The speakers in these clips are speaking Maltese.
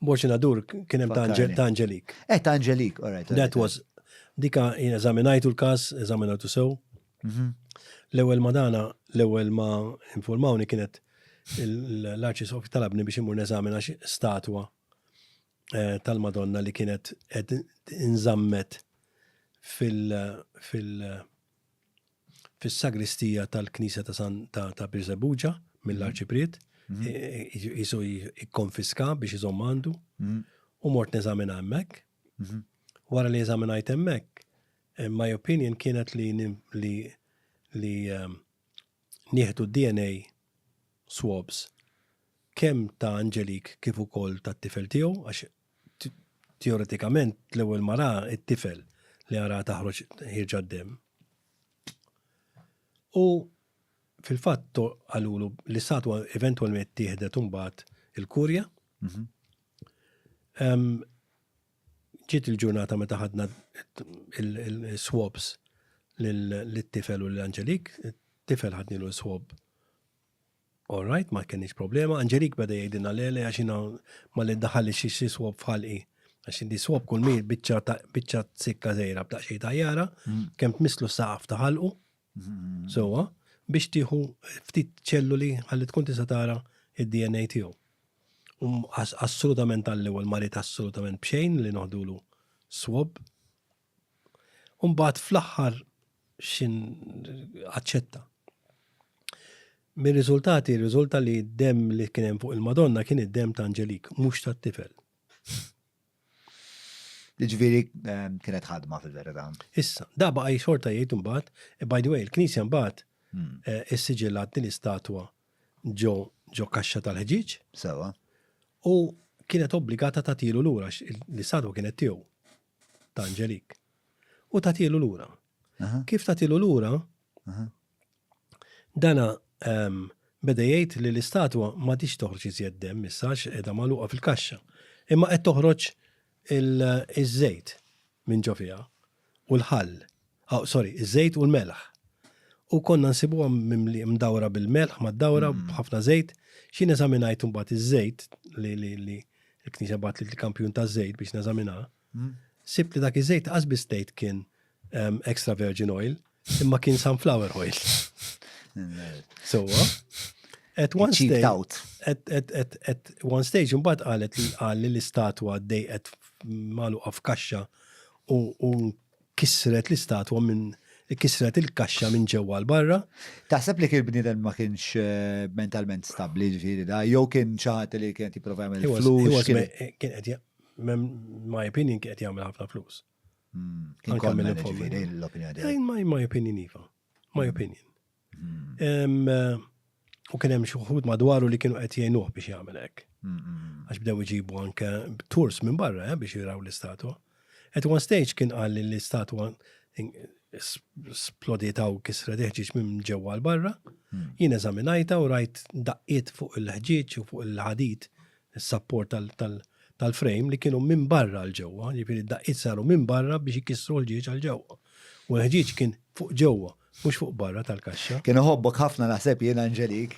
Borċinadur kien hemm ta' Angelik. Eh, ta' Angelik, all right. That was, dika eżaminajtu l-kas, eżaminajtu sew. Mhm. L-ewwel ma dana, l-ewwel ma informawni kienet l-arċis u talabni biex imur neżamina statwa eh, tal-Madonna li kienet qed inżammet fil- fil- fis-sagristija tal-Knisja ta' San ta' Birżebbuġa mill-Arċipriet, jisu jikkonfiska biex iżomm għandu, u mort neżamina hemmhekk. Wara li eżaminajt hemmhekk, eh, my opinion kienet li li li ehm, nieħdu DNA swabs kemm ta' Angelik kif ukoll tat-tifel tiegħu għax teoretikament l-ewwel mara it-tifel li għara taħroġ ħirġa d-dem. U fil-fatt għalulu li satwa eventualment tieħdet imbagħad il-kurja. Mhm. Ġiet il-ġurnata meta ħadna il-swabs l-tifel u l-Angelik, tifel ħadnilu l-swab All right, ma kenniex problema. Angelik beda jgħidilna le le għax jiena ma li daħal li xi swab f'ħalqi. Għax indi swab kull mir biċċa ta' biċċa sikka żejra b'daq xejn tajjara, kemm tmisslu saqaf ta' ħalqu. Sewwa, biex tieħu ftit ċelluli ħalli tkun tista' tara id-DNA tiegħu. U assolutament għall-ewwel marid assolutament b'xejn li noħdulu swab. U mbagħad fl-aħħar x'in aċċetta. Mir-riżultati rriżulta li d-demm li kien hemm fuq il-Madonna kien id-demm ta' Angelik, mhux tat-tifel. Jiġifieri ehm, kienet ħadma fil-verità. Issa, da baqa' xorta jgħid imbagħad, eh, by the way, il-Knisja mbagħad hmm. eh, issiġillat din l-istatwa ġo ġo kaxxa tal-ħġieġ. Sewa. U kienet obbligata tagħtilu lura l-istatwa kienet tiegħu. ta' Angelik u tagħtilu lura. Kif tagħtilu lura, dana ehm, beda jgħid li l-istatwa ma tix toħroġ iżjed dem issa għax qiegħda magħluqa fil-kaxxa. Imma qed toħroġ iż-żejt minn ġo fiha u l-ħall. aw sorry, iż-żejt u l-melħ. U konna nsibuha mdawra bil-melħ, mad-dawra mm. b'ħafna żejt. Xi neżaminajt imbagħad iż-żejt li li li l-knisja bat li l-kampjun ta' żejt biex neżamina. Mm. Sibt li dak iż-żejt qasbis tgħid kien ehm, extra virgin oil, imma kien sunflower oil. So, at one stage, at, at, at, at one stage, mbagħad qalet li qal li l-istatwa dejqet maluqa f'kaxxa u Kissret l-istatwa minn kissret il-kaxxa minn ġewwa għal barra. Taħseb li kien bniedem ma kienx eh, mentalment stabbli ġifieri da, jew kien xi ħadd li kien jipprova jagħmel flus. Kien qed my opinion kien qed jagħmel ħafna flus. Hmm, kien kont ġifieri l-opinjoni. My opinion iva. My hmm. opinion. U kien hemm xi wħud madwaru li kienu qed jgħinuh biex jagħmel hekk. Għax bdew iġibu anke tours minn barra eh, biex jiraw l-istatwa. At one stage kien qal li l-istatwa splodita u kisra deħġiġ minn ġewwa l-barra. Hmm. Jien eżaminajta u rajt daqqiet fuq il-ħġieġ u fuq il-ħadit, il-sapport tal-frame li kienu minn barra l-ġewwa, ġifiri daqqiet saru minn barra biex jkissru l-ġieġ għal-ġewwa. U l-ħġieġ kien fuq ġewwa. Mhux fuq barra tal-kaxxa. Kien iħobbok ħafna naħseb jien Angelik.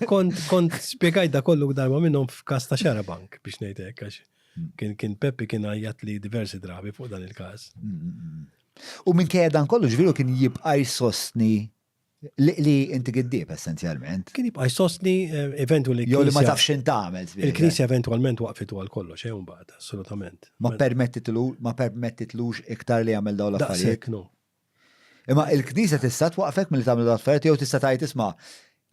Kont kont spjegajt da kollu darba minnhom f'każ ta' Xarabank biex ngħid hekk għax hmm. kien kien Peppi kien għajjat li diversi drabi fuq dan il-każ. Hmm, hmm, u minn dan kollu ġviru kien jibqa' jsostni li inti giddib essenzjalment. Kien jibqa' jsostni eh, eventwali. Jew li ma tafx x'in tagħmel. Il-Knisja eventwalment waqfet għal kollox, xejn eh, mbagħad, assolutament. Ma permettitlux iktar li jagħmel dawn l-affarijiet. Imma il-Knisja tista' twaqqfek milli tagħmel dawn l-affarijiet jew tista' tgħid isma'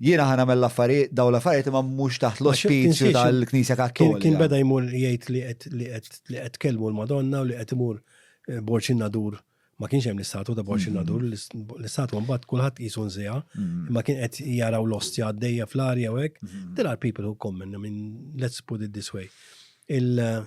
jiena ħa nagħmel l-affarijiet dawn l-affarijiet imma mhux taħt l-ospizju tal-Knisja Kattolika. Kien beda jmur jgħid li qed li qed li qed tkellmu l-Madonna u li qed imur eh, Borċi Nadur ma kienx hemm l-istatu ta' Borċi mm-hmm. Nadur, l-istatu mbagħad kulħadd qisu nżiha, mm-hmm. imma kien qed jaraw l-ostja għaddejja fl-arja u hekk. Mm-hmm. There are people who come in, I mean, let's put it this way. Il-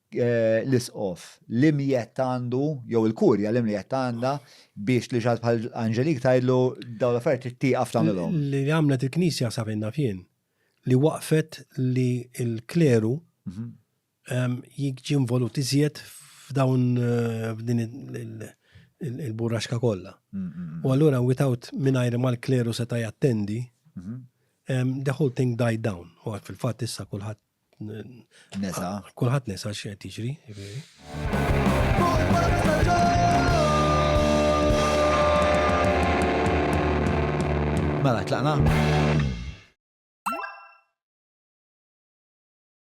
l-Isqof l-imjett għandu, jew il-Kurja l-imjett għandha biex lil xaħat bħal Angelique tgħidlu dawn l-affarijiet trid tieqaf tagħmilhom? Li għamlet il-Knisja sa fejn naf jien, li waqqfet li l-kleru jiġi involut iżjed f'dawn f'din il-burraxka kollha. U allura without mingħajr ma l-kleru seta' jattendi, the whole thing died down. U fil-fatt issa kulħadd Nesa. Ah, kulħadd nesa x'qed tiġri. Mela, tlaqna.